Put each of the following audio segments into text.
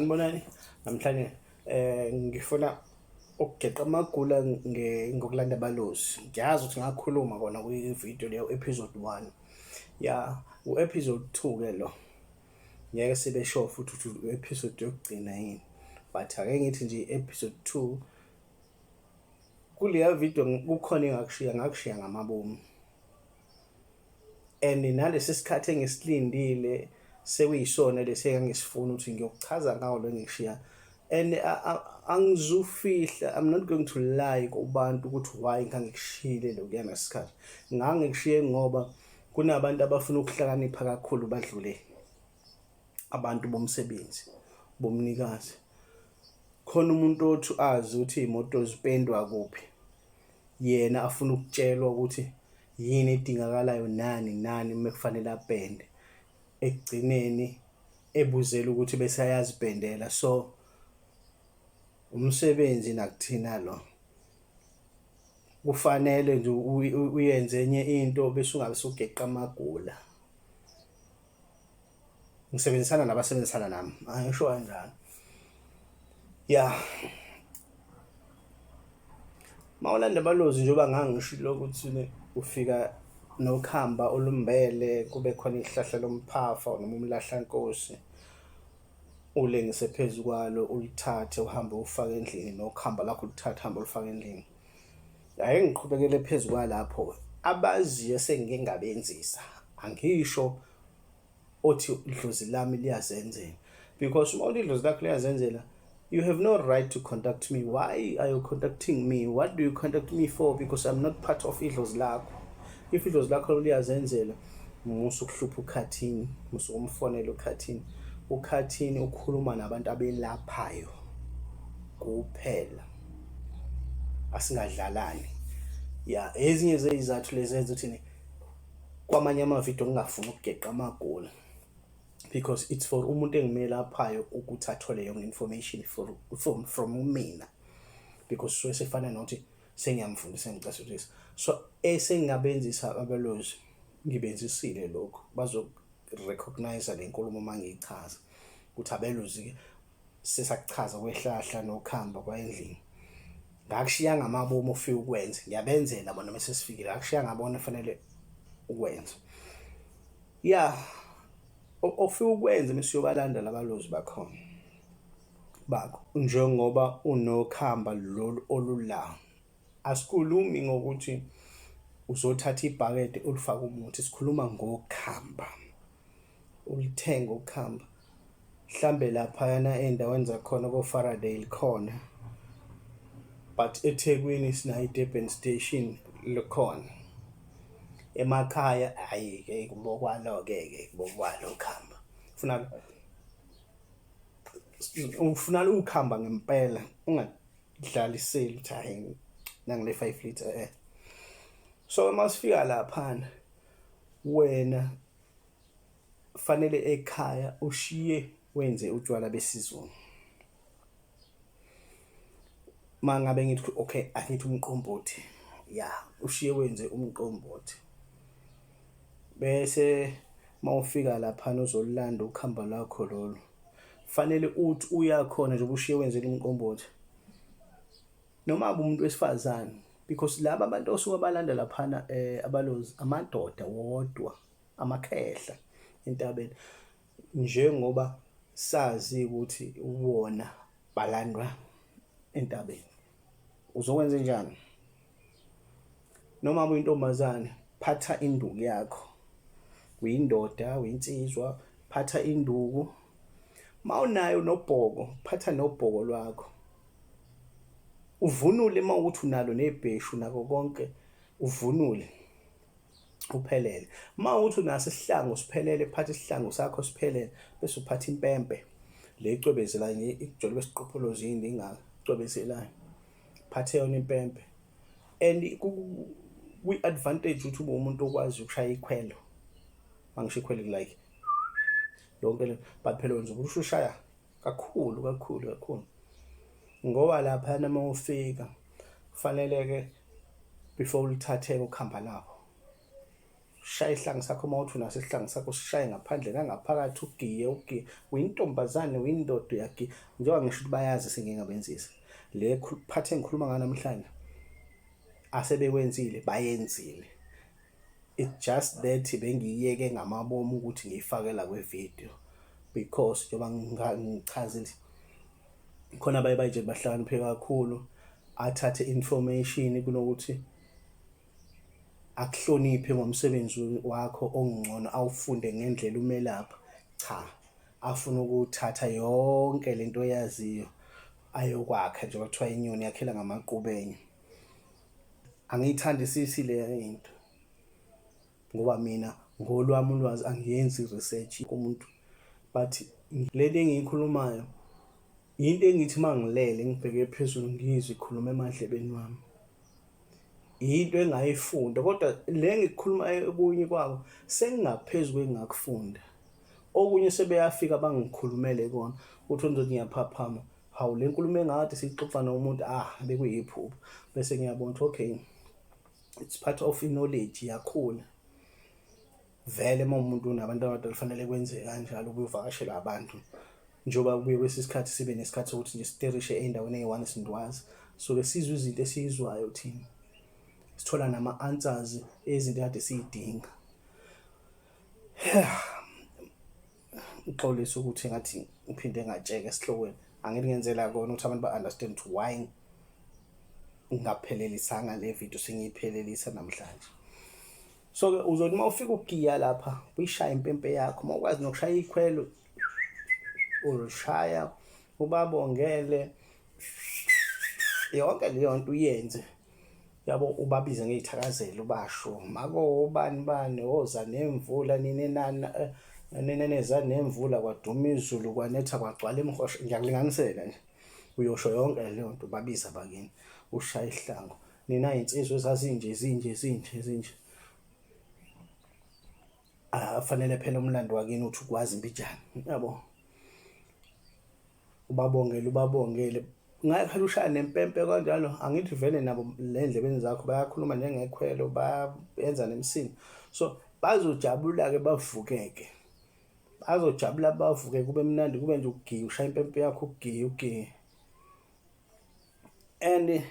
Ngibonani namhlanje eh ngifuna ukugeqa amagula ngokulanda balozi ngiyazi ukuthi ngakhuluma kona kwi-video leyo episode 1 ya u-episode 2 ke lo ngeke sibe sure futhi ukuthi u-episode yokugcina yini but ake ngithi nje i-episode 2 kuleya video kukhona engakushiya ngakushiya ngamabomu and nalesi sikhathi engisilindile sekuyisona lesi engangisifuna ukuthi ngiyokuchaza ngawo lo ngishiya and angizufihla i'm not going to lie kubantu ukuthi why ngangikushiyile lokuyana sikhathi ngangikushiye ngoba kunabantu abafuna ukuhlakanipha kakhulu badlule abantu bomsebenzi bomnikazi khona umuntu othi azi ukuthi imoto zipendwa kuphi yena afuna ukutshelwa ukuthi yini edingakalayo nani nani uma kufanele apende ekugcineni ebuzela ukuthi bese ayazipendela so umsebenzi nakuthina lo kufanele nje uyenze enye into bese ungabe sugeqa amagula ngisebenzisana nabasebenzisana nami angisho kanjalo ya mawulanda balozi njengoba ngangishilo ukuthi ufika nokuhamba olumbele kube khona ihlahla lomphafa noma umlahlankosi ulengise phezu kwalo ulithathe uhambe ufake endlini nokuhamba lakho ulithathe hambe ulifake endlini Ake ngiqhubekele phezu kwalapho abaziyo esengike ngabenzisa angisho othi idlozi lami liyazenzela because uma uthi idlozi lakho liyazenzela you have no right to contact me why are you contacting me what do you contact me for because i'm not part of idlozi lakho if idlozi lakho liyazenzela musa ukuhlupha ukhathini musa ukumfonela ukhathini ukhathini ukhuluma nabantu abelaphayo kuphela asingadlalani ya ezinye zeyizathu lezi ezenza ukuthi kwamanye amavidiyo ngingafuni ukugeqa amagoli because it's for umuntu engimele aphayo ukuthi athole yonke information for, from, from mina because suke sefana nokuthi sengiyamfundisa ngicasutisa so esengingabenzisa abelozi ngibenzisile lokho bazorecognize le nkulumo uma ngiyichaza ukuthi abelozi-ke sesakuchaza kwehlahla nokuhamba kwayendlini ngakushiya ngamabomu ofika ukwenza ngiyabenzela bona mase sifikile ngakushiya ngabona fanele ukwenza ya ofika ukwenza mesiyobalanda labalozi bakhona bakho njengoba unokhamba lolu olula Asikhulumi ngokuthi uzothatha ibhakede ulifake umuthi, sikhuluma ngokhamba, ulithenge ukhamba mhlambe laphayana ey'ndaweni zakhona ko-Faradale khona but eThekwini sinayo i-Durban station likhona emakhaya ayi ke kubokwalo ke ke kubokwalo khamba ufuna ufuna ukuhamba ngempela unga idlala iseli ukuthi hayi nangile 5 liter eh so uma sifika laphana wena fanele ekhaya ushiye wenze utshwala besizulu mangabe ngithi okay angithi umqombothi ya ushiye wenze umqombothi bese mawufika laphana uzolulanda ukhamba lakho lolu fanele uthi uyakhona nje ubushiye wenzela umqombothi noma umuntu wesifazane because laba abantu osuke balanda laphana eh abalozi amadoda wodwa amakhehla entabeni njengoba sazi ukuthi wona balandwa entabeni uzokwenza njani noma uyintombazane phatha induku yakho uyindoda uyinsizwa phatha induku mawunayo nobhoko phatha nobhoko lwakho uvunule uma ukuthi unalo nebheshu nako konke uvunule uphelele uma ukuthi unaso isihlangu siphelele phatha isihlangu sakho siphelele bese uphatha impempe le icwebezela ikujolo besiqopholo zini ingacwebezelayo phathe yona impempe and kwi-advantage ukuthi ube umuntu okwazi ukushaya ikhwelo mangisho ikhwelo like yonke le but phela nje ukusho ushaya kakhulu kakhulu kakhulu ngoba lapha nama ufika kufanele ke before ulithatheke ukhamba nabo shaye isihlangu sakho uma uthi unaso isihlangu sakho sishaye ngaphandle nangaphakathi ugiye ugiye uyintombazane uyindoda uyagiya njengoba ngisho ukuthi bayazi esengingabenzisa le phathi engikhuluma ngayo namhlanje asebekwenzile bayenzile it just that bengiyeke ngamabomu ukuthi ngiyifakela kwevideo because njengoba ngichazile khona baye bayitshela bahlakaniphe kakhulu athathe information kunokuthi akuhloniphe ngomsebenzi wakho ongcono awufunde ngendlela umelapha cha afuna ukuthatha yonke lento oyaziyo ayokwakha nje bathiwa inyoni yakhela ngamaqubenye angiyithandisisi le into ngoba mina ngolwami ulwazi angiyenzi research kumuntu but leli engiyikhulumayo Yinto engithi uma ngilele ngibheke phezulu ngizwe ikhuluma emadlebeni wami. Yinto engayifunda kodwa le ngikhuluma okunye kwabo sengingaphezu kwengakufunda. Okunye sebeyafika bangikhulumele kona uthi uNdoda ngiyaphaphama hawu le nkulumo engade siyixoxa nomuntu ah bekuyiphupho bese ngiyabona ukuthi okay it's part of knowledge yakhula vele uma umuntu unabantu abadala kufanele kwenze kanjalo ukuyovakashela abantu njengoba kubuye kwesinye isikhathi sibe nesikhathi sokuthi nje siterishe ey'ndaweni eyi-one sindwazi soke sizwe izinto esiyizwayo thina sithola nama-answers ezinto kade siyidinga uxolisa ukuthi ngathi ngiphinde ngatsheka esihlokweni angeke ngenzela kona ukuthi abantu ba-understand ukuthi why ngaphelelisanga le video sengiyiphelelisa namhlanje so ke uzothi uma ufika ugiya lapha uyishaya impempe yakho uma ukwazi nokushaya ikhwelo uzoshaya ubabongele yonke leyo nto uyenze yabo ubabize ngeyithakazelo ubasho mako ubani bani oza nemvula nini nana eh, nini neza nemvula kwaduma izulu kwanetha kwagcwala emhosha ngiyakulinganisela nje uyosho yonke leyo nto ubabiza bakini ushaya ihlango nina insizwa ezazinje zinje zinje zinje afanele ah, phela umlando wakini uthi ukwazi impijana yabo ubabongele ubabongele ngayekhala ushaya nempempe kanjalo angithi vele nabo le ndlebeni zakho bayakhuluma njengekhwelo bayenza nemsini so bazojabula-ke bavukeke bazojabula bavuke kube mnandi kube nje ugiye ushaya impempe yakho ugiye ugiye and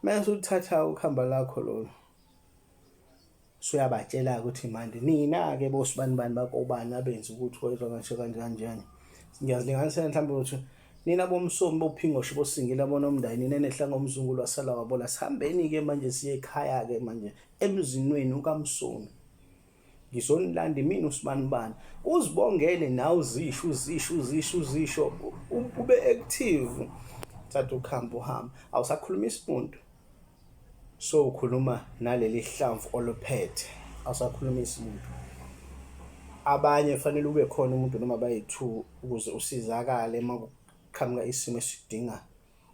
mase uthatha ukhamba lakho lolu suyabatshela ukuthi manje nina ke bosibani bani bakobani abenza ukuthi wezwa kanje kanje kanjani ngiyazilinganisela mhlawumbe ukuthi nina bomsomi bophingoshe bosingila bona umndayini nina nehla ngomzungu lwasala wabola sihambeni ke manje siye ekhaya ke manje emzinweni ukamsomi ngizonilanda imina usibanibani uzibongele nawe uzisho uzisho uzisho uzisho ube active thatha ukuhamba uhamba awusakhuluma isimuntu so ukhuluma naleli hlamvu oluphethe awusakhuluma isimuntu abanye fanele ube khona umuntu noma bayi-two ukuze usizakale uma kuqhamuka isimo esidinga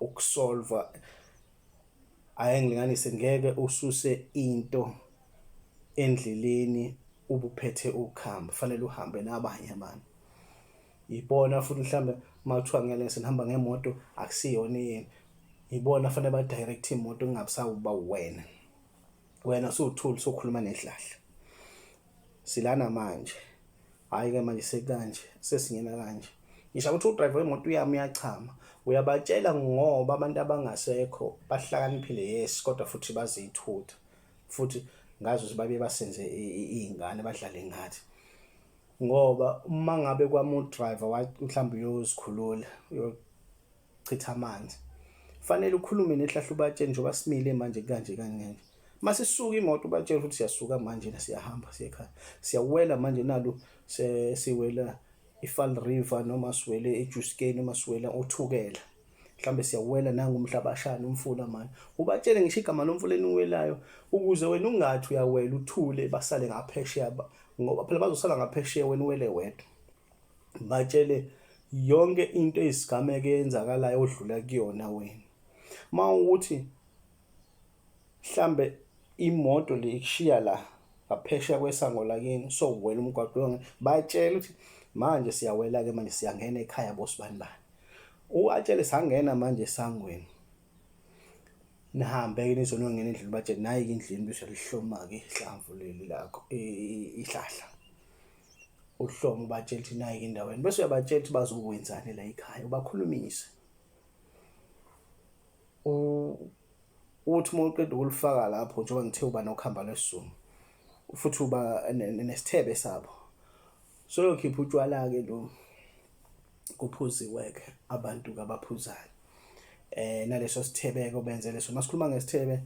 ukusolva Ayi ngilinganise ngeke ususe into endleleni ubuphethe ukhamba fanele uhambe nabanye abantu yibona futhi mhlambe makuthiwa ngeke sinihamba ngemoto akusiyona yini yibona fanele ba direct imoto kungabisawuba wena wena usuthuli sokhuluma nedlahla silana manje hayi ke manje sekanje sesingena kanje ngisho ukuthi udriver wemoto uyami uyachama uyabatshela ngoba abantu abangasekho bahlakaniphile yes kodwa futhi bazithutha futhi ngazi ukuthi babe basenze izingane badlale ngathi ngoba uma ngabe kwamu driver mhlawumbe uyozikhulula chitha amanzi fanele ukhulume nehlahla ubatshele njengoba simile manje kanje kangeke masisuka imoto ubatshela ukuthi siyasuka manje na siyahamba siyekhaya siyawela manje nalu siwela ifall river noma siwele ejuskeni noma siwela othukela mhlambe siyawela nangu umhlabashana umfula manje ubatshele ngisho igama lomfula eniwelayo ukuze wena ungathi uyawela uthule basale ngaphesheya ngoba phela bazosala ngaphesheya wena uwele wedwa batshele yonke into eyisigameko eyenzakalayo odlula kuyona wena uma ukuthi mhlambe imoto le ikushiya la ngaphesheya kwesango lakini so wena umgwaqo yonke batshele ukuthi manje siyawela-ke manje siyangena ekhaya bosibani bani uwatshele sangena manje esangweni nihambe ke nizonongena endlini bathi nayi ke endlini bese lihloma ke ihlamvu leli lakho ihlahla uhloma ubatshela ukuthi nayi ke endaweni bese uyabatshela ukuthi bazokwenzani la ekhaya ubakhulumise uthi uma uqeda ukulifaka lapho njengoba ngithe uba nokuhamba lwesizungu futhi uba nesithebe sabo soyokhipha utshwala-ke lo kuphuziwe-ke abantu-ke abaphuzayo eh naleso sithebeko benze leso masikhuluma ngesithebe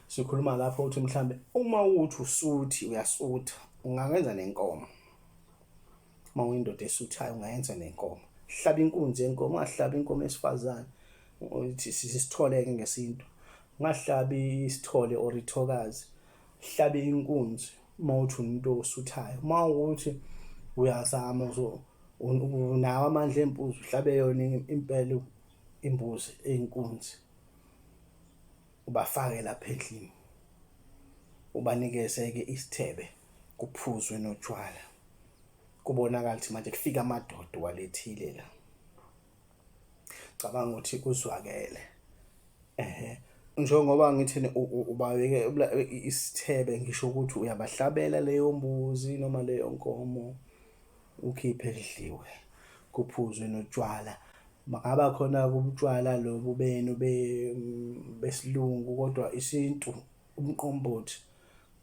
sikhuluma lapho ukuthi mhlambe uma uthi usuthi uyasutha ungakenza nenkomo uma uyindoda esuthayo ungayenza nenkomo hlaba inkunzi yenkomo ungahlabi inkomo esifazane ukuthi sisithole-ke ngesintu ungahlabi isithole or ithokazi hlabe inkunzi uma uthi umuntu osuthayo uma ukuthi uyazama unawo amandla embuzi uhlabe yona impela imbuzi eyinkunzi ubafake lapha endlini ubanikeze-ke isithebe kuphuzwe notshwala kubonakala ukuthi manje kufika amadoda walethile la cabanga ukuthi kuzwakele ehe njengoba ngithini ubabeke isithebe ngisho ukuthi uyabahlabela leyo mbuzi noma leyo nkomo ukhiphe kudliwe kuphuzwe notshwala makaba khona kubutshwala lobu benu besilungu kodwa isintu umqombothi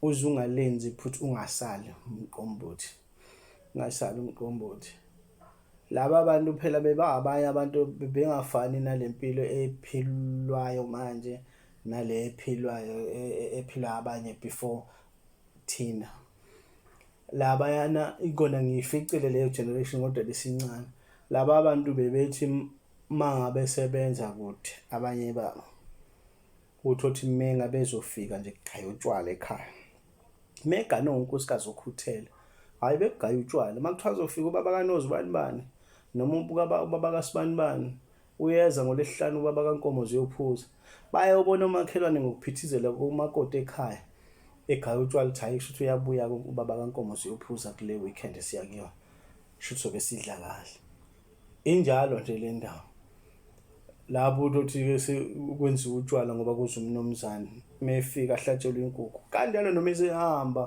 uze ungalenzi iphutha ungasali umqombothi ungasali umqombothi laba bantu phela bebangabanye abantu bebengafani nale mpilo ephilwayo manje nale ephilwayo e, e, ephilwa abanye before thina labayana ikona ngiyificile leyo generation kodwa besincane laba bantu bebethi mangabe sebenza kude abanye babo uthi othi menga bezofika nje kugaya utshwala ekhaya megane unkosikazi okhuthele hayi bekugaya utshwala uma kuthiwa azofika ubaba kanozi ubani bani noma ubaba kasibani bani uyeza ngolesihlanu ubaba kankomo ziyophuza bayobona omakhelwane ngokuphithizela komakoti ekhaya egaya utshwala ukuthi hayi kusho ukuthi uyabuya ubaba kankomo ziyophuza kule weekend esiya kuyona kusho ukuthi sobe sidla kahle Injalo nje le ndawo lapho utothi-ke sekwenziwa utshwala ngoba kuze umnumzane uma efika ahlatshelwe inkukhu kanjalo noma esehamba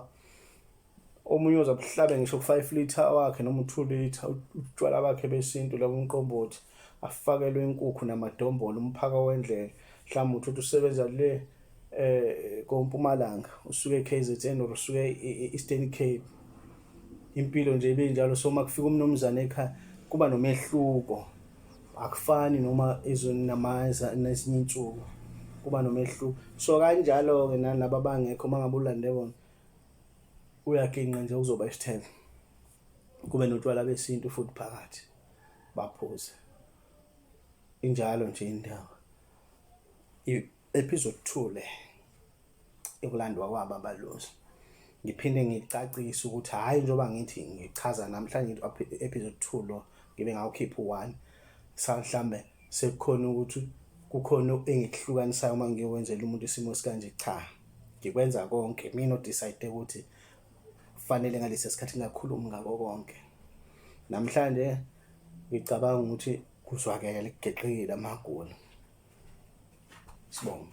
omunye oza kuhlabe ngisho ku-five litre wakhe noma u-two litre utshwala bakhe besintu la kumqombothi afakelwe inkukhu namadombolo umphaka wendlela mhlawumbe uthi uthi usebenza le um kompumalanga usuke e-k z n or usuke e-eastern cape impilo nje ibe njalo so uma kufika umnumzane ekhaya kuba nomehluko akufani noma ezweni namaza nezinye insuku kuba nomehluko so kanjalo-ke nanaba bangekho uma ngabe ulande bona uyaginqa nje uzoba isithelo kube notshwala besintu futhi phakathi baphuze injalo nje indaba episode 2 le ekulandwa kwabo abalozi ngiphinde ngicacise ukuthi hhayi njengoba ngithi ngichaza namhlanje episode two lo ngibe ngawukhipha u-one mhlawumbe sekukhona ukuthi kukhona engikuhlukanisayo uma ngiyowenzela umuntu isimo esikanje cha ngikwenza konke mina odecide ukuthi kufanele ngalesi sikhathi ngakhulumi ngako konke namhlanje ngicabanga ukuthi kuzwakele kugeqile amagoli sibonga